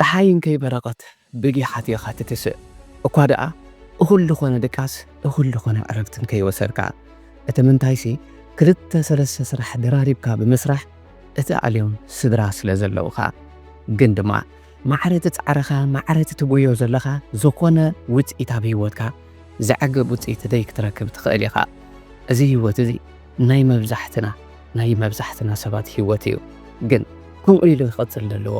ጸሓይ እንከይ በረቐት ብጊሓት ኢኻ ትትስእ፣ እኳ ደኣ እኹል ልኾነ ድቃስ እኹል ልኾነ ዕረፍት እንከይ ወሰድካ፣ እቲ ምንታይሲ ክልተ ሰለስተ ስራሕ ደራሪብካ ብምስራሕ እትኣልዮም ስድራ ስለ ዘለውኻ። ግን ድማ ማዕረ ትጻዕርኻ ማዕረ ትትጎዮ ዘለኻ ዝኾነ ውጽኢት ኣብ ሂወትካ ዘዕግብ ውጽኢት ደይ ክትረክብ ትኽእል ኢኻ። እዚ ሂወት እዚ። ናይ መብዛሕትና ናይ መብዛሕትና ሰባት ሂወት እዩ ግን ከምኡ ኢሉ ክቅጽል ደለዎ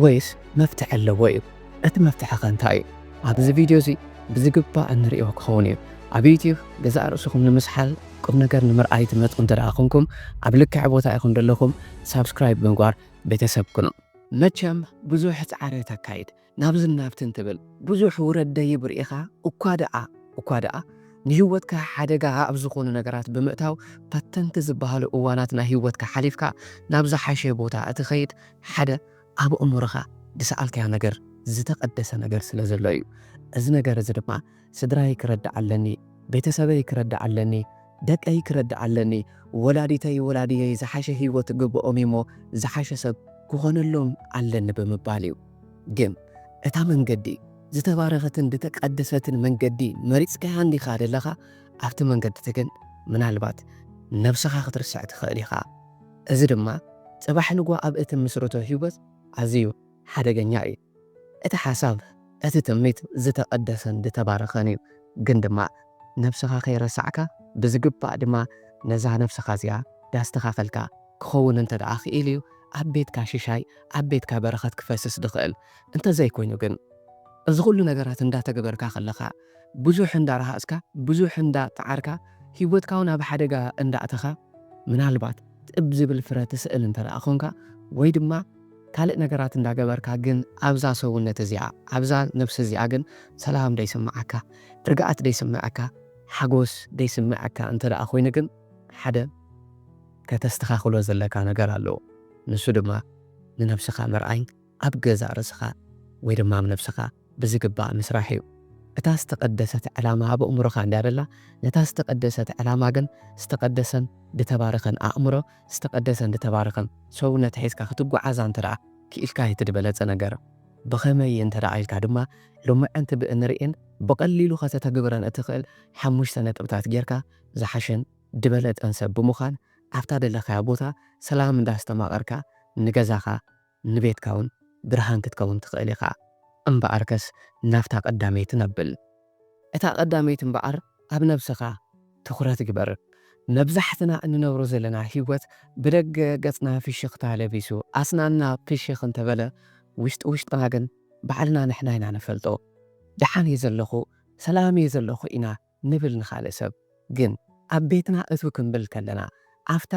ወይስ መፍትሒ ኣለዎ እዩ እቲ መፍትሒ ከ እንታይ እዩ ኣብዚ ቪድዮ እዚ ብዝግባእ እንርእዮ ክከውን እዩ ኣብ ዩቱብ ገዛእ ርእስኩም ንምስሓል ቁምነገር ንምርኣይ ትመጹ እንተ ኮንኩም ኣብ ልክዕ ቦታ ኢኩም ደለኩም ሳብስክራይብ ብምግባር ቤተሰብ ኩኑ። መቸም ብዙሕ ጻዕሪ ተካይድ ናብዝን ናብትን ትብል ብዙሕ ውረድ ደይብ ርኢኻ እኳ ደኣ እኳ ደኣ ንህይወትካ ሓደጋ ኣብ ዝኾኑ ነገራት ብምእታው ፈተንቲ ዝበሃሉ እዋናት ናይ ህይወትካ ሓሊፍካ ናብ ዝሓሸ ቦታ እትኸይድ ሓደ ኣብ ኣእምሮኻ ዝሰኣልካዮ ነገር ዝተቐደሰ ነገር ስለ ዘሎ እዩ እዚ ነገር እዚ ድማ ስድራይ ክረድእ ኣለኒ፣ ቤተሰበይ ክረድእ ኣለኒ፣ ደቀይ ክረድእ ኣለኒ፣ ወላዲተይ ወላዲየይ ዝሓሸ ህይወት ክግብኦም እዩሞ ዝሓሸ ሰብ ክኾነሎም ኣለኒ ብምባል እዩ። ግን እታ መንገዲ ዝተባረኸትን ዝተቀደሰትን መንገዲ መሪጽካያ እንዲኻ ዘለኻ፣ ኣብቲ መንገዲቲ ግን ምናልባት ነብስኻ ክትርስዕ ትኽእል ኢኻ። እዚ ድማ ጽባሕ ንግሆ ኣብ እትምስርቶ ህይወት ኣዝዩ ሓደገኛ እዩ። እቲ ሓሳብ እቲ ትምኒት ዝተቀደሰን ዝተባረኸን እዩ ግን ድማ ነብስኻ ከይረሳዕካ ብዝግባእ ድማ ነዛ ነብስኻ እዚኣ ዳስተኻኸልካ ክኸውን እንተድኣ ክኢሉ እዩ ኣብ ቤትካ ሽሻይ ኣብ ቤትካ በረኸት ክፈስስ ድኽእል እንተዘይኮይኑ ግን እዚ ኹሉ ነገራት እንዳተገበርካ ከለኻ ብዙሕ እንዳ ረሃጽካ ብዙሕ እንዳ ጸዓርካ ሂወትካ ውን ኣብ ሓደጋ እንዳ ኣእተኻ ምናልባት ጥብ ዝብል ፍረ ትስእል እንተደኣ ኮንካ ወይ ድማ ካልእ ነገራት እንዳ ገበርካ ግን ኣብዛ ሰውነት እዚኣ ኣብዛ ነብሲ እዚኣ ግን ሰላም ደይ ስምዓካ ርግኣት ደይ ስምዕካ ሓጎስ ደይ ስምዕካ እንተደኣ ኮይኑ ግን ሓደ ከተስተኻኽሎ ዘለካ ነገር ኣሎ ንሱ ድማ ንነብስኻ ምርኣይ ኣብ ገዛእ ርእስኻ ወይ ድማ ኣብ ነብስኻ ብዝግባእ ምስራሕ እዩ። እታ ዝተቐደሰት ዕላማ ኣብ ኣእምሮኻ እንድያ ደላ፣ ነታ ዝተቐደሰት ዕላማ ግን ዝተቐደሰን ድተባረኸን ኣእምሮ፣ ዝተቐደሰን ድተባረኸን ሰውነት ሒዝካ ክትጉዓዛ እንተድኣ ክኢልካ እቲ ድበለጸ ነገር። ብኸመይ እንተድኣ ኢልካ ድማ ሎምዕንቲ ብእንርእን ብቐሊሉ ከተተግብረን እትኽእል ሓሙሽተ ነጥብታት ጌርካ ዝሓሸን ድበለጸን ሰብ ብምዃን ኣብታ ደለኻያ ቦታ ሰላም እንዳስተማቐርካ ንገዛኻ ንቤትካውን ብርሃን ክትከውን ትኽእል ኢኻ። እምበኣርከስ ናብታ ቀዳመይትን ኣብል። እታ ቀዳመይቲ እምበኣር ኣብ ነብስኻ ትኹረት ግበር። መብዛሕትና እንነብሮ ዘለና ህይወት ብደገ ገጽና ፍሽኽታ ለቢሱ ኣስናንና ፍሽኽ እንተበለ ውሽጢ ውሽጥና ግን ባዕልና ንሕና ኢና ንፈልጦ። ደሓን እየ ዘለኹ፣ ሰላም እየ ዘለኹ ኢና ንብል ንኻልእ ሰብ ግን ኣብ ቤትና እትው ክንብል ከለና ኣብታ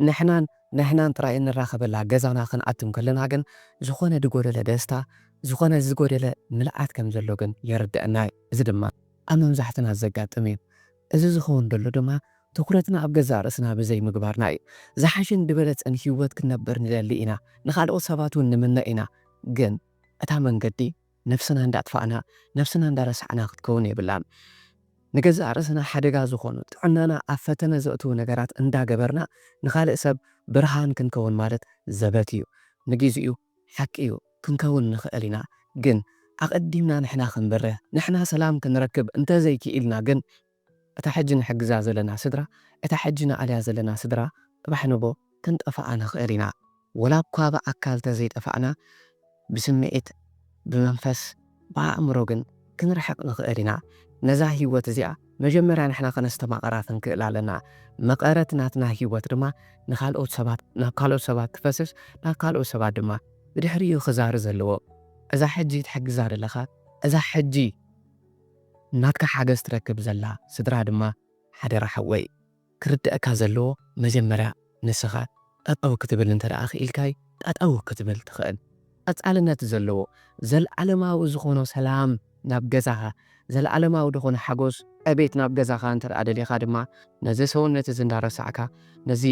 ንሕናን ንሕናን ጥራይ እንራኸበላ ገዛና ክንኣትም ከለና ግን ዝኾነ ድጎደለ ደስታ ዝኾነ ዝጎደለ ምልኣት ከም ዘሎ ግን የርደኣና እዩ እዚ ድማ ኣብ መብዛሕትና ዘጋጥም እዩ እዚ ዝኸውን ደሎ ድማ ትኹረትና ኣብ ገዛእ ርእስና ብዘይ ምግባርና እዩ ዝሓሸን ድበለጸን ሂወት ክንነብር ንደሊ ኢና ንኻልኦት ሰባት ውን ንምነ ኢና ግን እታ መንገዲ ነብስና እንዳ ኣጥፋእና ነብስና እንዳ ረሳዕና ክትከውን የብላን ንገዛእ ርእስና ሓደጋ ዝኾኑ ጥዕናና ኣብ ፈተነ ዘእትዉ ነገራት እንዳ ገበርና ንኻልእ ሰብ ብርሃን ክንከውን ማለት ዘበት እዩ ንጊዚኡ ሓቂ እዩ ክንከውን ንኽእል ኢና ግን ኣቀዲምና ንሕና ክንበርህ ንሕና ሰላም ክንረክብ እንተዘይ ኪኢልና ግን እታ ሕጂ ንሕግዛ ዘለና ስድራ እታ ሕጂ ንኣልያ ዘለና ስድራ ጽባሕ ንግሆ ክንጠፍኣ ንኽእል ኢና ወላኳ ብኣካል ተዘይጠፋእና ብስምዒት ብመንፈስ ብኣእምሮ ግን ክንርሕቅ ንኽእል ኢና ነዛ ሂወት እዚኣ መጀመርያ ንሕና ከነስተማቅራ ክንክእል ኣለና መቀረት ናትና ሂወት ድማ ንካልኦት ሰባት ናብ ካልኦት ሰባት ክፈስስ ናብ ካልኦት ሰባት ድማ ብድሕሪኡ ክዛሪ ዘለዎ እዛ ሕጂ ትሕግዛ ዘለኻ እዛ ሕጂ ናትካ ሓገዝ ትረክብ ዘላ ስድራ ድማ ሓደራ ሓወይ ክርደኣካ ዘለዎ መጀመርያ ንስኻ ጠጠው ክትብል እንተ ክኢልካይ ጠጠው ክትብል ትኽእል ቀጻልነት ዘለዎ ዘልኣለማዊ ዝኾኖ ሰላም ናብ ገዛኻ ዘልኣለማዊ ድኾነ ሓጎስ ዕቤት ናብ ገዛኻ እንተ ደሊኻ ድማ ነዚ ሰውነት እዚ እንዳረሳዕካ ነዚ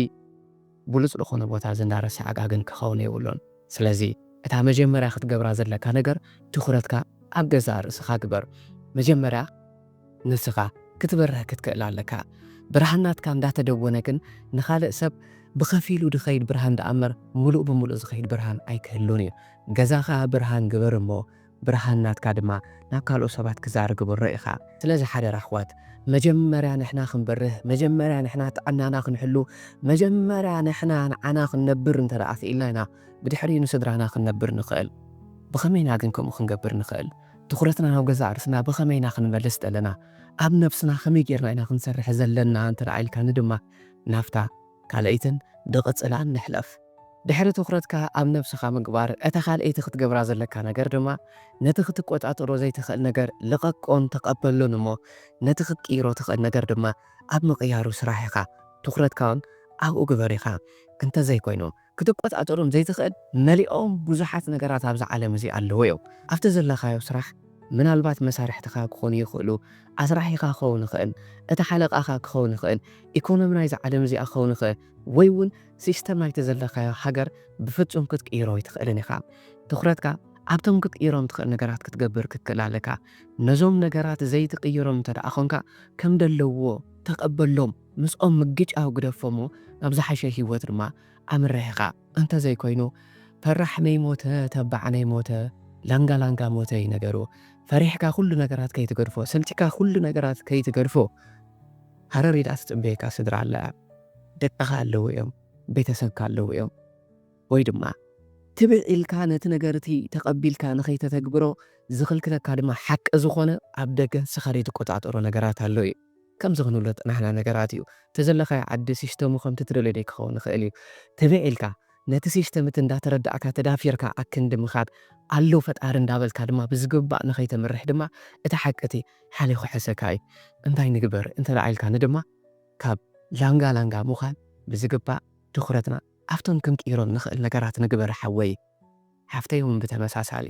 ብሉጽ ልኾነ ቦታ ዝናረሰ ዓጋግን ክኸውን የብሉን ስለዚ እታ መጀመርያ ክትገብራ ዘለካ ነገር ትኹረትካ ኣብ ገዛእ ርእስኻ ግበር መጀመርያ ንስኻ ክትበርህ ክትክእል ኣለካ ብርሃን ናትካ እንዳተደጎነ ግን ንኻልእ ሰብ ብኸፊሉ ድኸይድ ብርሃን ድኣምበር ምሉእ ብምሉእ ዝኸይድ ብርሃን ኣይክህሉን እዩ ገዛኻ ብርሃን ግበር እሞ ብርሃን ናትካ ድማ ናብ ካልኦት ሰባት ክዛር ግብሮ ኢኻ። ስለዚ ሓደራ ኣሕዋት መጀመርያ ንሕና ክንበርህ መጀመርያ ንሕና ጥዕናና ክንሕሉ መጀመርያ ንሕና ንዓና ክንነብር እንተ ደኣ ክኢልና ኢና ብድሕሪኡ ንስድራና ክንነብር ንኽእል። ብኸመይ ኢና ግን ከምኡ ክንገብር ንኽእል? ትኹረትና ናብ ገዛእ ርእስና ብኸመይ ኢና ክንመልስ ዘለና? ኣብ ነብስና ከመይ ጌርና ኢና ክንሰርሕ ዘለና እንተ ደኣ ኢልካኒ ድማ ናብታ ካልኣይትን ድቕጽላን ንሕለፍ። ድሕሪ ትኹረትካ ኣብ ነብስኻ ምግባር፣ እታ ካልኣይቲ ክትገብራ ዘለካ ነገር ድማ ነቲ ክትቆጻጸሮ ዘይትኽእል ነገር ልቐቆን ተቐበሎን እሞ ነቲ ክትቅይሮ ትኽእል ነገር ድማ ኣብ ምቕያሩ ስራሕ ኢኻ። ትኹረትካውን ኣብኡ ግበር ኢኻ። እንተዘይኮይኑ። ክትቆጻጸሮም ዘይትኽእል መሊኦም ብዙሓት ነገራት ኣብዛ ዓለም እዚ ኣለዉ እዮም። ኣብቲ ዘለኻዮ ስራሕ ምናልባት መሳርሕትኻ ክኾኑ ይኽእሉ፣ ኣስራሒኻ ክኸውን ይኽእል፣ እቲ ሓለቓኻ ክኸውን ይኽእል፣ ኢኮኖሚ ናይዛ ዓለም እዚኣ ክኸውን ይኽእል፣ ወይ እውን ሲስተም ናይቲ ዘለኻዮ ሃገር ብፍጹም ክትቅይሮ ኣይትኽእልን ኢኻ። ትኹረትካ ኣብቶም ክትቅይሮም ትኽእል ነገራት ክትገብር ክትክእል ኣለካ። ነዞም ነገራት ዘይትቕይሮም እንተድኣ ኾንካ ከም ደለዉዎ ተቐበሎም። ምስኦም ምግጫው ግደፎ'ሞ ናብ ዝሓሸ ህይወት ድማ ኣምርሕ ኢኻ። እንተዘይኮይኑ ፈራሕ ነይሞተ ተባዕ ነይሞተ ላንጋ ላንጋ ሞተ እዩ ነገሩ። ፈሪሕካ ኩሉ ነገራት ከይትገድፎ ሰልቺካ ኩሉ ነገራት ከይትገድፎ ሃረር ኢላ ትጽበየካ ስድራ ኣለያ። ደቅኻ ኣለዉ እዮም ቤተሰብካ ኣለዉ እዮም። ወይ ድማ ትብዕ ኢልካ ነቲ ነገር እቲ ተቐቢልካ ንኸይተተግብሮ ዝኽልክለካ ድማ ሓቂ ዝኾነ ኣብ ደገ ንስኻ ዘይትቆጻጸሮ ነገራት ኣሎ እዩ። ከምዚ ክንብሎት ናህና ነገራት እዩ እቲ ዘለኻዮ ዓዲ ሲስተሙ ከምቲ ትደልዮ ደይክኸውን ይኽእል እዩ ትብዕ ኢልካ ነቲ ሲስተም እቲ እንዳተረዳእካ ተዳፊርካ ኣክንዲ ምኻድ ኣሎ ፈጣሪ እንዳበልካ ድማ ብዝግባእ ንኸይተምርሕ ድማ እቲ ሓቂ እቲ ሓልዮ ክሕሰካ እዩ እንታይ ንግበር እንተድኣ ኢልካኒ ድማ ካብ ላንጋ ላንጋ ምዃን ብዝግባእ ትኹረትና ኣብቶም ክንቅይሮም ንኽእል ነገራት ንግበር ሓወይ ሓፍተይ እውን ብተመሳሳሊ።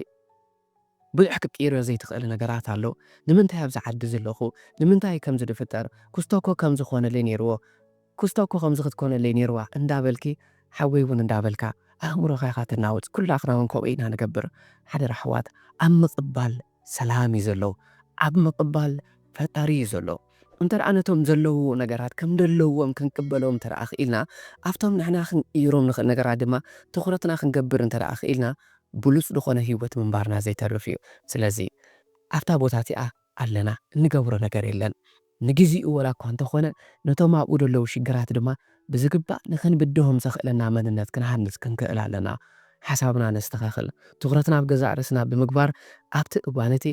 ብዙሕ ክትቅይርዮ ዘይትኽእል ነገራት ኣሎ ንምንታይ ኣብዚ ዓዲ ዝለኹ ንምንታይ ከምዚ ድፍጠር ኩስቶ እኮ ከምዚ ክኾነለይ ነይርዎ ኩስቶ እኮ ከምዚ ክትኮነለይ ነይርዋ እንዳበልኪ ሓወይ ውን እንዳበልካ ኣእምሮኻ ኢኻ ተናውጽ ኩላትና ውን ከምኡ ኢና ንገብር ሓደራ ኣሕዋት ኣብ ምቅባል ሰላም እዩ ዘሎ ኣብ ምቅባል ፈጣሪ እዩ ዘሎ። እንተደኣ ነቶም ዘለውዎ ነገራት ከም ደለዎም ክንቅበሎም እንተደኣ ክኢልና፣ ኣብቶም ንሕና ክንቅይሮም ንኽእል ነገራት ድማ ትኹረትና ክንገብር እንተደኣ ክኢልና፣ ብሉጽ ዝኾነ ህይወት ምንባርና ዘይተርፍ እዩ። ስለዚ ኣብታ ቦታ እቲኣ ኣለና፣ እንገብሮ ነገር የለን። ንግዜኡ ወላ እኳ እንተኾነ ነቶም ኣብኡ ደለዉ ሽግራት ድማ ብዝግባእ ንኽንብድሆም ዘኽእለና መንነት ክንሃንጽ ክንክእል ኣለና። ሓሳብና ነስተኻኽል፣ ትኹረትና ኣብ ገዛእ ርእስና ብምግባር ኣብቲ እዋን እቲ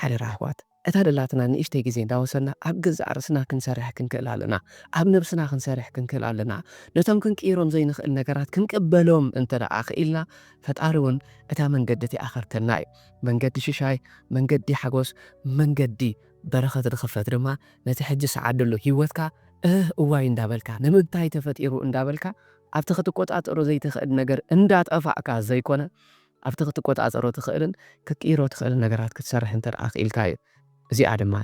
ሓደራ ኣሕዋት! እታ ደላትና ንእሽተይ ግዜ እንዳወሰድና ኣብ ገዛእ ርእስና ክንሰርሕ ክንክእል ኣለና። ኣብ ነብስና ክንሰርሕ ክንክእል ኣለና። ነቶም ክንቅይሮም ዘይንኽእል ነገራት ክንቅበሎም እንተደኣ ክኢልና ፈጣሪ እውን እታ መንገዲ እቲኣ ከርተልና እዩ። መንገዲ ሽሻይ፣ መንገዲ ሓጎስ፣ መንገዲ በረኸት ንኽፈት ድማ ነቲ ሕጂ ስዓደሉ ህይወትካ እህ እዋይ እንዳበልካ ንምንታይ ተፈጢሩ እንዳበልካ ኣብቲ ክትቆጻጸሮ ዘይትኽእል ነገር እንዳጠፋእካ ዘይኮነ ኣብቲ ክትቆጻጸሮ ትኽእልን ክትቅይሮ ትኽእልን ነገራት ክትሰርሕ እንተ ደኣ ክኢልካ እዩ። እዚኣ ድማ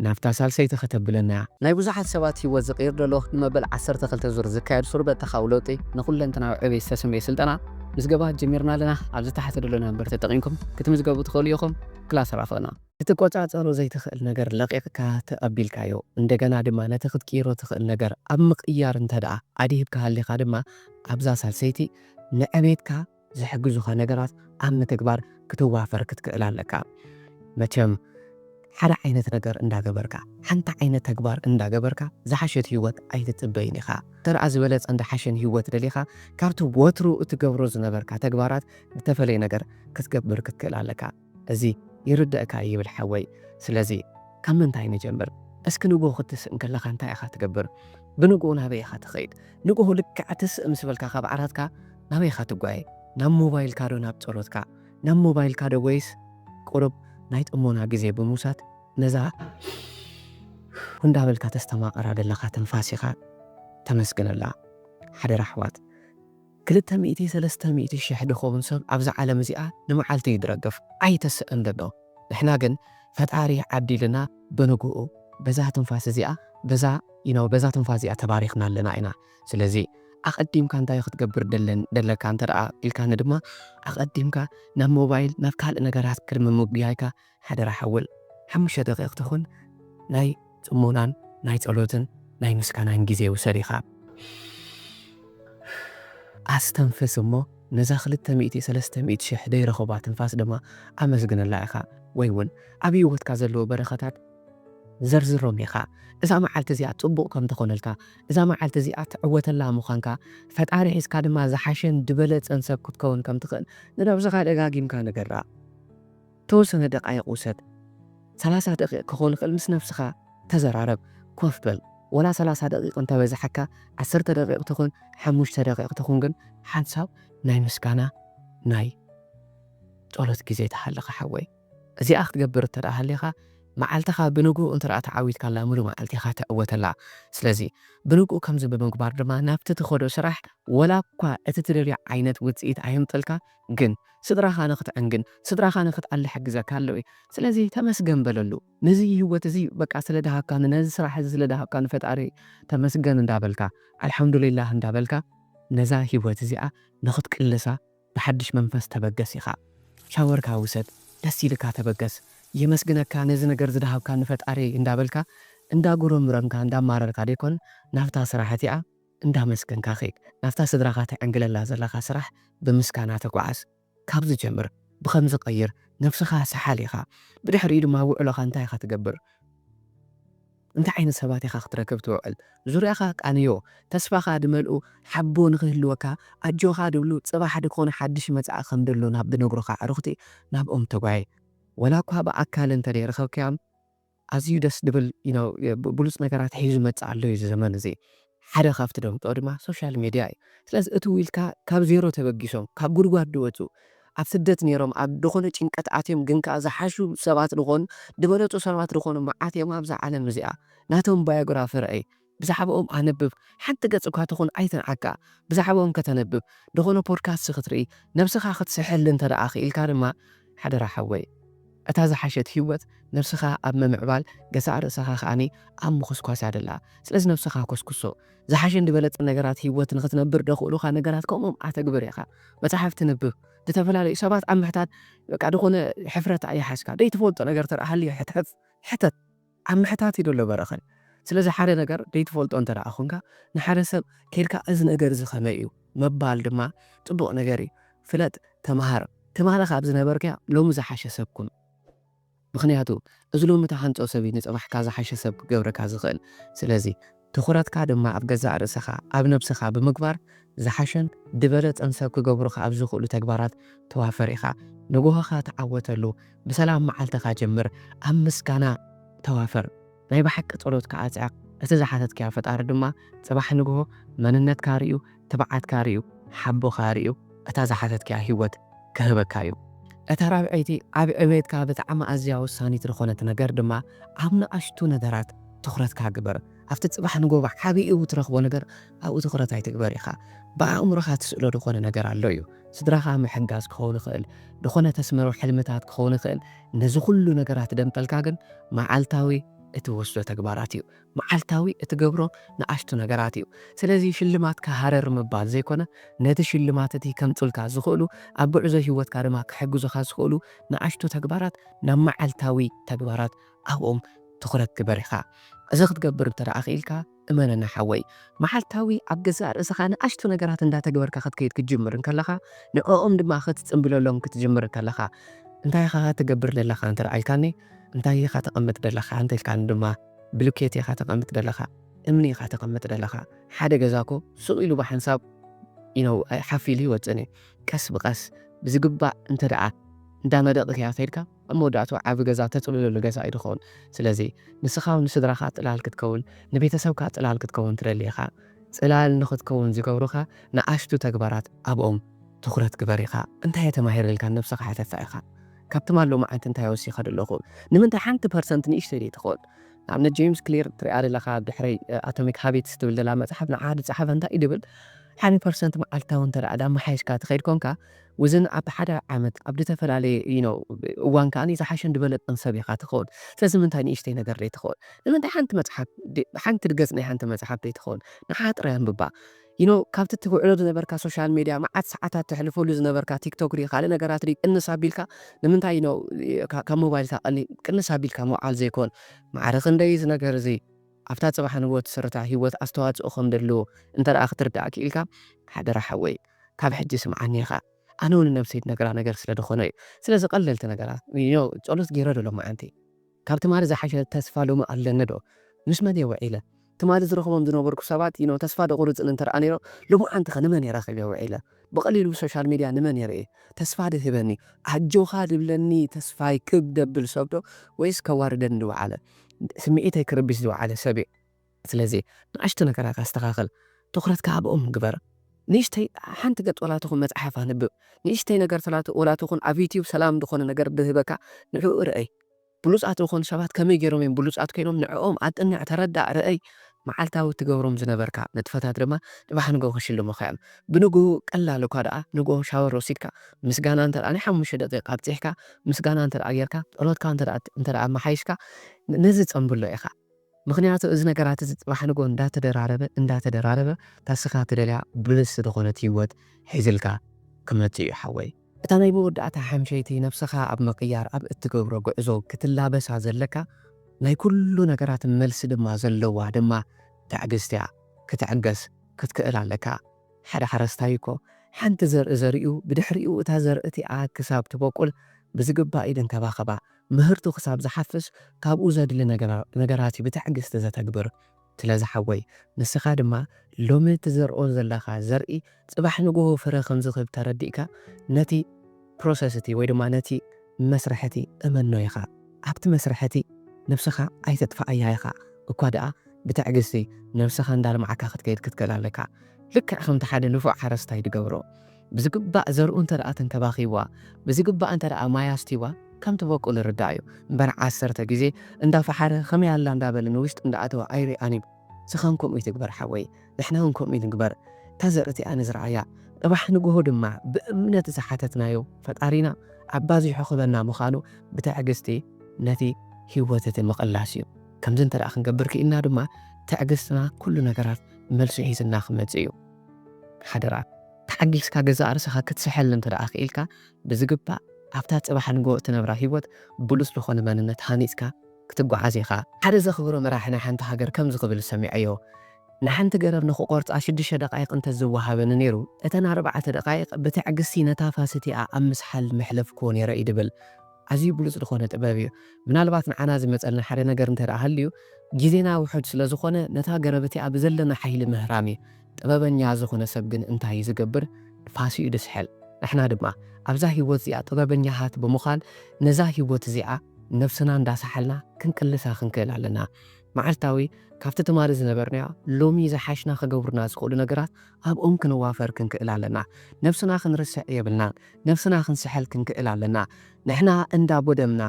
ናብታ ሳልሰይቲ ከተብለና እያ። ናይ ብዙሓት ሰባት ህይወት ዝቕይር ዘሎ ንመበል ዓሰርተ ክልተ ዙር ዝካየድ ሱር በተኻዊ ለውጢ ንኩለንተናዊ ዕብየት ዝተሰምየ ስልጠና ምዝገባ ጀሚርና ኣለና። ኣብዚ ታሕቲ ዘሎ ነምበር ተጠቒምኩም ክትምዝገቡ ትኽእሉ ኢኹም። ክላስ ራኸብና። ክትቆጻጸሮ ዘይትኽእል ነገር ለቒቕካ ተቐቢልካዮ እንደገና ድማ ነቲ ክትቅይሮ ትኽእል ነገር ኣብ ምቕያር እንተ ደኣ ኣድሂብካ ሃሊኻ ድማ ኣብዛ ሳልሰይቲ ንዕብየትካ፣ ዝሕግዙኻ ነገራት ኣብ ምትግባር ክትዋፈር ክትክእል ኣለካ። መቸም ሓደ ዓይነት ነገር እንዳገበርካ፣ ሓንቲ ዓይነት ተግባር እንዳገበርካ ዝሓሸት ህይወት ኣይትጽበይን ኢኻ። እንተደኣ ዝበለጸን ዝሓሸን ህይወት ደሊኻ ካብቲ ወትሩ እትገብሮ ዝነበርካ ተግባራት ዝተፈለየ ነገር ክትገብር ክትክእል ኣለካ። እዚ ይርደእካ ይብል ሓወይ ስለዚ ካብ ምንታይ ንጀምር እስኪ ንግሆ ክትስእ እንከለካ እንታይ ኢካ ትገብር ብንግሆ ናበይ ኢካ ትከይድ ንግሆ ልክዕ ትስእ ምስ በልካ ካብ ዓራትካ ናበይ ኢካ ትጓየ ናብ ሞባይልካ ዶ ናብ ጸሎትካ ናብ ሞባይልካ ዶ ወይስ ቁሩብ ናይ ጥሞና ግዜ ብምውሳድ ነዛ እንዳበልካ ተስተማቅራ ደለካ ትንፋስ ኢካ ተመስግነላ ሓደራ ኣሕዋት። ክልተ ሚእቲ ሰለስተ ሚእቲ ሽሕ ድኹም ሰብ ኣብዛ ዓለም እዚኣ ንመዓልቲ እዩ ድረግፍ ኣይተስእን ደሎ ንሕና ግን ፈጣሪ ዓዲሉና ብንጉኡ በዛ ትንፋስ እዚኣ በዛ you know በዛ ትንፋስ እዚኣ ተባሪኽና ኣለና ኢና ስለዚ ኣቐዲምካ እንታይ እዩ ክትገብር ደለን ደለካ እንተደኣ ኢልካኒ ድማ ኣቐዲምካ ናብ ሞባይል ናብ ካልእ ነገራት ቅድሚ ምጉያይካ ሓደራ ሓወል ሓሙሽተ ደቂቅ ትኹን ናይ ጽሞናን ናይ ጸሎትን ናይ ምስጋናን ግዜ ውሰድ ኢኻ። ኣስተንፍስ እሞ ነዛ ክልተ ሚእቲ ሰለስተ ሚእቲ ሽሕ ደይረኸባ ትንፋስ ድማ ኣመስግነላ ኢኻ ወይ ውን ኣብ ሂወትካ ዘለዉ በረኸታት ዘርዝሮም ኢኻ። እዛ መዓልቲ እዚኣ ጽቡቅ ከም ትኾነልካ እዛ መዓልቲ እዚኣ ትዕወተላ ምዃንካ ፈጣሪ ሒዝካ ድማ ዝሓሸን ድበለጸን ሰብ ክትከውን ከም ትኽእል ንነብስኻ ደጋጊምካ ንገራ። ተወሰነ ደቃይቅ ውሰድ ሰላሳ ደቂቅ ክኮን ይክእል ምስ ነብስካ ተዘራረብ ኮፍ በል ወላ ሰላሳ ደቂቅ እንተ በዘሐካ ዓሰርተ ደቂቅ ትኩን ሓሙሽተ ደቂቅ ትኩን ግን ሓንሳብ ናይ ምስጋና ናይ ጾሎት ግዜ ትሃልካ ሓወይ እዚኣ ክትገብር እንተ ሃሊካ መዓልትካ ብንጉኡ እንተ ተዓዊትካላ ምሉእ መዓልቲ ኢካ ትዕወተላ ስለዚ ብንጉኡ ከምዚ ብምግባር ድማ ናብቲ ትከዶ ስራሕ ወላ እኳ እቲ ትደልዮ ዓይነት ውጽኢት ኣየምጽልካ ግን ስድራኻ ንክትዕንግን ስድራኻ ንክትኣሊ ሓጊዘካ ኣሎ እየ ስለዚ ተመስገን በለሉ ነዚ ሂወት እዚ በቃ ስለ ደሃብካኒ ነዚ ስራሕ እዚ ስለ ደሃብካ ንፈጣሪ ተመስገን እንዳበልካ ኣልሓምዱሊላህ እንዳበልካ ነዛ ሂወት እዚኣ ንክትቅልሳ ብሓድሽ መንፈስ ተበገስ ኢኻ ሻወርካ ውሰድ ደስ ኢልካ ተበገስ የመስግነካ ነዚ ነገር ዝደሃብካኒ ፈጣሪየይ እንዳበልካ እንዳጉረምረምካ እንዳማረርካ ደይኮን ናብታ ስራሕ እቲኣ እንዳመስገንካ ኺድ ናብታ ስድራኻ ትዕንግለላ ዘለኻ ስራሕ ብምስጋና ተጓዓዝ ካብዚ ጀምር ብኸምዚ ቀይር ነብስኻ ሰሓል ኢኻ ብድሕሪኡ ድማ ኣብ ውዕሎኻ እንታይ ኢኻ ትገብር እንታይ ዓይነት ሰባት ኢኻ ክትረክብ ትውዕል ዙርያኻ ቃንዮ ተስፋኻ ድመልኡ ሓቦ ንኽህልወካ ኣጆኻ ድብሉ ጽባሕ ድኾነ ሓድሽ መጻኢ ከም ደሎ ናብ ድነግሩኻ ኣዕሩኽቲ ናብኦም ተጓየ ወላ እኳ ብኣካል እንተ ደይረኸብካዮም ኣዝዩ ደስ ድብል you know ብሉጽ ነገራት ሒዙ ዝመጽእ ኣሎ እዩ እዚ ዘመን እዚ ሓደ ካብቲ ደምጾ ድማ ሶሻል ሜድያ እዩ ስለዚ እቲ ዊልካ ካብ ዜሮ ተበጊሶም ካብ ጉድጓድ ድወጹ ኣብ ስደት ኔሮም ኣብ ድኮነ ጭንቀት ኣትዮም ግን ከኣ ዝሓሹ ሰባት ድኮኑ ድበለጹ ሰባት ድኮኑ መዓት እዮም ኣብዛ ዓለም እዚኣ ናቶም ባዮግራፊ ርኣይ ብዛዕባኦም ኣንብብ፣ ሓንቲ ገጽ እኳ ትኹን ኣይትንዓካ፣ ብዛዕባኦም ከተንብብ፣ ደኾነ ፖድካስት ክትርኢ፣ ነብስኻ ክትስሕል እንተደኣ ክኢልካ ድማ፣ ሓደራ ሓወይ፣ እታ ዝሓሸት ህይወት ነብስኻ ኣብ ምምዕባል፣ ገዛእ ርእሰኻ ከኣ ኣብ ምኹስኳስ እያ ዘላ። ስለዚ ነብስኻ ኮስኩሶ። ዝሓሸን ዝበለጸን ነገራት ህይወት ንኽትነብር ዘኽእሉኻ ነገራት ከምኦም ኣተግብር ኢኻ። መጻሕፍቲ ንብብ፣ ዝተፈላለዩ ሰባት ኣብ ምሕታት በቃ ደኾነ ሕፍረት ኣይሓዝካ፣ ዘይትፈልጦ ነገር እንተደኣ ሃልዩ ሕተት። ኣብ ምሕታት ኢዩ ዘሎ በረኸት። ስለዚ ሓደ ነገር ዘይትፈልጦ እንተ ደኣ ኹንካ ንሓደ ሰብ ኬድካ እዚ ነገር እዚ ከመይ ኢዩ ምባል ድማ ጽቡቕ ነገር ኢዩ። ፍለጥ ተመሃር ትማሊ ካብ ዝነበርካዮ ሎሚ ዝሓሸ ሰብ ኩን። ምኽንያቱ እዚ ሎሚ ትሃንጾ ሰብ ኢዩ ንጽባሕካ ዝሓሸ ሰብ ክገብረካ ዝኽእል። ስለዚ። ትኹረትካ ድማ ኣብ ገዛእ ርእሰኻ፣ ኣብ ነብስኻ፣ ብምግባር ዝሓሸን ድበለጸን ሰብ ክገብሩኻ ኣብ ዝኽእሉ ተግባራት ተዋፈር ኢኻ። ንግሆኻ ተዓወተሉ፣ ብሰላም መዓልትኻ ጀምር፣ ኣብ ምስጋና ተዋፈር፣ ናይ ብሓቂ ጸሎትካ ኣጽዕቕ፣ እቲ ዝሓተትካዮ ፈጣሪ ድማ ጽባሕ ንግሆ መንነትካ ርእዩ ትብዓትካ ርእዩ ሓቦኻ ርእዩ እታ ዝሓተትካያ ሂወት ክህበካ እዩ። እታ ራብዐይቲ ኣብ ዕብየትካ ብጣዕሚ ኣዝያ ወሳኒት ዝኾነት ነገር ድማ ኣብ ንኣሽቱ ነገራት ትኹረትካ ግበር። ኣብቲ ጽባሕ ንጎቦ ዓቢ እዩ ትረኽቦ ነገር ኣብኡ ትኹረት ኣይትግበር ኢኻ። ብኣእምሮኻ ትስእሎ ዝኾነ ነገር ኣሎ እዩ። ስድራኻ ምሕጋዝ ክኸውን ይኽእል፣ ዝኾነ ተስምሮ ሕልምታት ክኸውን ይኽእል፣ ነዚ ኩሉ ነገራት ደምጠልካ ግን መዓልታዊ እትወስዶ ተግባራት እዩ። መዓልታዊ እትገብሮ ንኣሽቱ ነገራት እዩ። ስለዚ ሽልማትካ ሃረር ምባል ዘይኮነ፣ ነቲ ሽልማት እቲ ከምጹልካ ዝኽእሉ፣ ኣብ ጉዕዞ ህይወትካ ድማ ክሕግዙኻ ዝኽእሉ ንኣሽቱ ተግባራት ናብ መዓልታዊ ተግባራት ኣብኦም ትኹረት ግበር ኢኻ። እዚ ክትገብር እንተ ደኣ ክኢልካ፣ እመነና ሓወይ፣ መዓልታዊ ኣብ ገዛእ ርእስኻ ንኣሽቱ ነገራት እንዳተግበርካ ክትከይድ ክትጅምር እንከለኻ፣ ንዕኦም ድማ ክትጽምብለሎም ክትጅምር እንከለኻ፣ እንታይ ኢኻ ትገብር ዘለኻ እንተ ደኣ ኢልካኒ፣ እንታይ ኢኻ ተቐምጥ ዘለኻ እንተ ኢልካኒ ድማ፣ ብሉኬት ኢኻ ተቀምጥ ደለኻ እምኒ ኢኻ ተቀምጥ ደለኻ ሓደ ገዛ እኮ ሱቅ ኢሉ ብሓንሳብ you know ሓፍ ኢሉ ኣይወጽእን እዩ ቀስ ብቀስ ብዝግባእ እንተ ደኣ እንዳ መደቅክያ ከይድካ ኣብ መወዳእትኡ ዓቢ ገዛ ተጽልለሉ ገዛ እዩ ዝኸውን ስለዚ ንስኻ ውን ንስድራኻ ጽላል ክትከውን ንቤተሰብካ ጽላል ክትከውን ትደሊ ኢኻ ጽላል ንኽትከውን ዝገብሩኻ ንኣሽቱ ተግባራት ኣብኦም ትኹረት ግበር ኢኻ እንታይ እየ ተማሂረ ኢልካ ንነብስኻ ሓተታ ኢኻ። ካብ ትማል ሎምዓንቲ እንታይ ወሲኸ ደለኹ? ንምንታይ ሓንቲ ፐርሰንት ንእሽተይ ደይትኾን? ንኣብነት ጀይምስ ክሊር ትሪኣ ደለኻ ኣብ ድሕረይ ኣቶሚክ ሃቢትስ ትብል ደላ መጽሓፍ ንዓኻ ድጸሓፈ እንታይ እዩ ድብል? ሓዲ ፐርሰንት መዓልታዊ እንተ ድኣማሓይሽካ ትኸይድ ኮንካ ውዝን ኣብ ሓደ ዓመት ኣብ ድተፈላለየ you know እዋን ከኣ ዝሓሸን ድበለጸን ሰብ ኢኻ ትኾን። ስለዚ ንምንታይ ንእሽተይ ነገር ደይትኾን? ንምንታይ ሓንቲ መጽሓፍ ሓንቲ ገጽ ናይ ሓንቲ መጽሓፍ ደይትኾን ንዓኻ ጥራይ ኣንብባ? You know ካብቲ ትውዕሎ ዝነበርካ ሶሻል ሜድያ መዓት ሰዓታት ተሕልፈሉ ዝነበርካ ቲክቶክ ሪኢ ካልእ ነገራት ሪኢ ቅንስ ኣቢልካ ንምንታይ you know ካብ ሞባይልካ ቀሊል ቅንስ ኣቢልካ ምውዓል ዘይኮን ማዕረ ክንደይ እዚ ነገር እዚ ኣብታ ጽባሕ ንግሆ ትስርታ ሂወት ኣስተዋጽኦ ከም ደለዎ እንተ ክትርዳእ ኪኢልካ ሓደራ ሓወይ ካብ ሕጂ ስምዓኒ ኢኻ ኣነ ውን ንነብሰይ ድነግራ ነገር ስለ ድኾነ እዩ ስለዚ ቀለልቲ ነገራት you know ጸሎት ጌረ ዶ ሎምዓንቲ ካብ ትማሊ ዝሓሸ ተስፋ ሎሚ ኣለኒ ዶ? ምስ መን እየ ውዒለ? ትማሊ ዝረኽቦም ዝነበርኩ ሰባት you know ተስፋ ደቑርጽን እንተደኣ ነይሮም ሎማዓንቲ ከ ንመን እየ ረኺበ ውዒለ? ብቐሊሉ ብሶሻል ሚድያ ንመን እየ ርእየ ተስፋ ድህበኒ ኣጆኻ ድብለኒ ተስፋይ ክብ ደብል ሰብ ዶ ወይስ ከዋርደኒ ዝውዓለ ስምዒተይ ክርብሽ ዝውዓለ ሰብ እየ? ስለዚ ንኣሽቱ ነገራት ኣስተኻኽል፣ ትኹረትካ ኣብኦም ግበር። ንእሽተይ ሓንቲ ገጽ ወላ ትኹን መጽሓፍ ኣንብብ፣ ንእሽተይ ነገር ሰላት ወላ ትኹን ኣብ ዩትዩብ ሰላም ዝኾነ ነገር ድህበካ ንዕኡ ርኣይ፣ ብሉጻት ዝኾኑ ሰባት ከመይ ጌሮም እዮም ብሉጻት ኮይኖም ንዕኦም ኣጥንዕ፣ ተረዳእ፣ ርኣይ፣ መዓልታዊ እትገብሮም ዝነበርካ ንጥፈታት ድማ ጽባሕ ንግሆ ክሽልሙኻ እዮም። ብንግሁ ቀላል እኳ ደኣ ንግሆ ሻወር ወሲድካ ምስጋና እንተ ናይ ሓሙሽተ ደቂቅ ኣብጺሕካ ምስጋና እንተ ጌርካ ጸሎትካ እንተ ኣመሓይሽካ ነዚ ጸንብሎ ኢኻ። ምኽንያቱ እዚ ነገራት እዚ ጽባሕ ንግሆ እንዳተደራረበ እንዳተደራረበ እታ እስኻ ትደልያ ብልጽቲ ዝኾነት ሂወት ሒዝልካ ክመጽእ እዩ ሓወይ። እታ ናይ መወዳእታ ሓምሸይቲ ነብስኻ ኣብ ምቕያር ኣብ እትገብሮ ጉዕዞ ክትላበሳ ዘለካ ናይ ኩሉ ነገራት መልሲ ድማ ዘለዋ ድማ ትዕግስቲ እያ ክትዕገስ ክትክእል ኣለካ ሓደ ሓረስታይ እኮ ሓንቲ ዘርኢ ዘሪኡ ብድሕሪኡ እታ ዘርኢ እቲኣ ክሳብ ትቦቁል ብዝግባእ ይንከባኸባ ምህርቱ ክሳብ ዝሓፍስ ካብኡ ዘድሊ ነገራት'ዩ ብትዕግስቲ ዘተግብር። ስለዚ ሓወይ ንስኻ ድማ ሎሚ እትዘርኦ ዘለኻ ዘርኢ ጽባሕ ንግሆ ፍረ ከም ዝህብ ተረዲእካ ነቲ ፕሮሰስ'ቲ ወይ ድማ ነቲ መስርሕ'ቲ እመኖ ኢኻ። ኣብቲ መስርሕ'ቲ ነብስኻ ኣይተጥፍኣያ ኢኻ እኳ ደኣ ብትዕግስቲ ነብስኻ እንዳልማዕካ ክትከይድ ክትክእል ኣለካ። ልክዕ ከምቲ ሓደ ንፉዕ ሓረስታይ ዝገብሮ። ብዝግባእ ዘርኡ እንተደኣ ተንከባኺብዋ፣ ብዝግባእ እንተደኣ ማይ ኣስትይዋ ከም ትበቁል ይርዳእ እዩ። እምበር ዓሰርተ ግዜ እንዳፈሓረ ከመይ ኣላ እንዳበለ ንውሽጢ እንዳኣተወ ኣይርኣን እዩ። ስኻውን ከምኡ ይትግበር ሓወይ፣ ንሕናውን ከምኡ ንግበር። እታ ዘርኢ እቲኣ ንዝርኣያ፣ ጽባሕ ንግሆ ድማ ብእምነት ዝሓተትናዮ ፈጣሪና ኣባዚሑ ክህበና ምኻኑ ብትዕግስቲ ነቲ ህይወት እቲ ምቕላስ እዩ። ከምዚ እንተደኣ ክንገብር ክኢልና ድማ ትዕግስትና ኩሉ ነገራት መልሱ ሒዝልና ክመጽእ እዩ። ሓደራ ተሓጊስካ ገዛእ ርእሰኻ ክትሰሕል እንተ ደኣ ክኢልካ፣ ብዝግባእ ኣብታ ጽባሕ ንግሆ እትነብራ ህይወት ብሉጽ ዝኾነ መንነት ሃኒጽካ ክትጓዓዝ ኢኻ። ሓደ ዘኽብሮ መራሒ ናይ ሓንቲ ሃገር ከምዚ ክብል ሰሚዐዮ፣ ንሓንቲ ገረብ ንኽቖርጻ ሽዱሽተ ደቓይቕ እንተ ዝወሃበኒ ነይሩ፣ እተን ኣርባዕተ ደቓይቕ ብትዕግስቲ ነታ ፋሰቲኣ ኣብ ምስሓል መሕለፍኩዎ ነይረ እዩ ድብል። ኣዝዩ ብሉጽ ዝኾነ ጥበብ እዩ። ምናልባት ንዓና ዝመጸና ሓደ ነገር እንተ ደኣ ሃልዩ፣ ግዜና ውሑድ ስለ ዝኾነ ነታ ገረብ እቲኣ ብዘለና ሓይሊ ምህራም እዩ። ጥበበኛ ዝኾነ ሰብ ግን እንታይ እዩ ዝገብር? ንፋስ እዩ ዝስሕል። ንሕና ድማ ኣብዛ ህይወት እዚኣ ጥበበኛታት ብምዃን ነዛ ህይወት እዚኣ ነብስና እንዳ ሰሓልና ክንቅልሳ ክንክእል ኣለና። መዓልታዊ ካብቲ ትማሊ ዝነበርናዮ ሎሚ ዝሓሽና ክገብሩና ዝኽእሉ ነገራት ኣብኦም ክንዋፈር ክንክእል ኣለና። ነብስና ክንርስዕ የብልናን። ነብስና ክንስሕል ክንክእል ኣለና። ንሕና እንዳ ቦደምና፣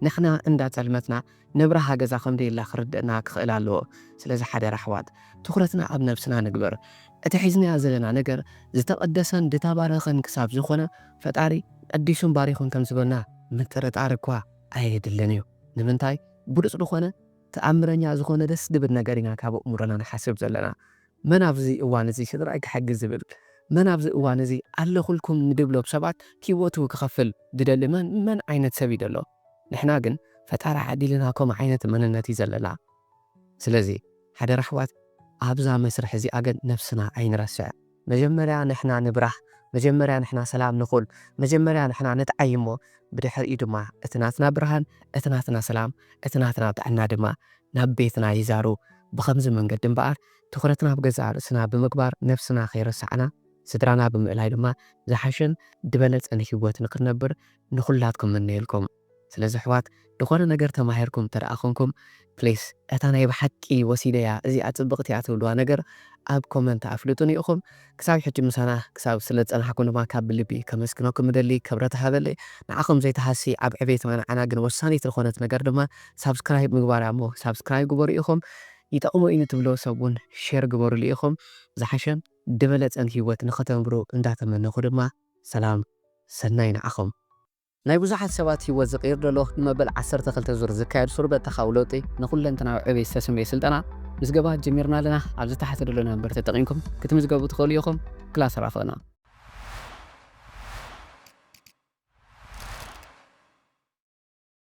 ንሕና እንዳ ጸልመትና ነብርሃ ገዛ ከም ደየላ ክርደእና ክኽእል ኣለዎ። ስለዚ ሓደራ ኣሕዋት ትኹረትና ኣብ ነብስና ንግበር። እቲ ሒዝናዮ ዘለና ነገር ዝተቐደሰን ዝተባረኸን ክሳብ ዝኾነ ፈጣሪ ቀዲሱን ባሪኹን ከም ዝበና ምጥርጣር እኳ ኣየድልን እዩ። ንምንታይ ብሉጽ ልኾነ ተኣምረኛ ዝኾነ ደስ ድብል ነገር ኢና ካብ ኣእምሮና ንሓስብ ዘለና። መን ኣብዚ እዋን እዚ ስድራይ ክሕግዝ ዝብል፣ መን ኣብዚ እዋን እዚ ኣለኹልኩም ንድብሎም ሰባት ሂወቱ ክኸፍል ዝደሊ መን መን ዓይነት ሰብ እዩ ዘሎ? ንሕና ግን ፈጣሪ ዓዲልና ከምኡ ዓይነት መንነት እዩ ዘለና። ስለዚ ሓደራ ኣሕዋት ኣብዛ መስርሕ እዚኣ ግን ነብስና ኣይንረስዕ። መጀመርያ ንሕና ንብራህ፣ መጀመርያ ንሕና ሰላም ንኹን፣ መጀመርያ ንሕና ንጥዓይ እሞ ብድሕሪኡ ድማ እቲ ናትና ብርሃን፣ እቲ ናትና ሰላም፣ እቲ ናትና ጥዕና ድማ ናብ ቤትና ይዛሩ። ብኸምዚ መንገዲ እምበኣር ትኹረትና ኣብ ገዛእ ርእስና ብምግባር ነፍስና ከይረሳዕና ስድራና ብምእላይ ድማ ዝሓሸን ድበለጸን ሂወት ንኽንነብር ንኹላትኩም እምነየልኩም። ስለዚ ኣሕዋት ድኾነ ነገር ተማሂርኩም እንተደኣ ኮንኩም ፕሊስ እታ ናይ ብሓቂ ወሲደያ እዚኣ ጽብቕቲ እያ ትብልዋ ነገር ኣብ ኮመንት ኣፍልጡኒ ኢኹም። ክሳብ ሕጂ ምሳና ክሳብ ስለ ዝጸናሕኩም ድማ ካብ ብልቢ ከመስግነኩም እደሊ ክብረት ሃበለይ ንዓኹም ዘይትሃሲ ኣብ ዕቤትና ንዓና ግን ወሳኒት ልኾነት ነገር ድማ ሳብስክራይብ ምግባር እያ እሞ ሳብስክራይብ ግበሩ ኢኹም ይጠቕሞ እዩ ንትብልዎ ሰብ ውን ሼር ግበርሉ ኢኹም ዝሓሸን ድበለጸን ሂወት ንኽተንብሩ እንዳተመነኹ ድማ ሰላም ሰናይ ንዓኹም። ናይ ብዙሓት ሰባት ህይወት ዝቕይር ዘሎ ንመበል ዓሰርተ ክልተ ዙር ዝካየድ ሱር በተኻዊ ለውጢ ንኩለንተናዊ ዕብየት ዝተሰምየ ስልጠና ምዝገባ ጀሚርና ኣለና። ኣብዚ ታሕቲ ዘሎ ነምበር ተጠቒምኩም ክትምዝገቡ ትኽእሉ ኢኹም። ክላስ ራኽብና።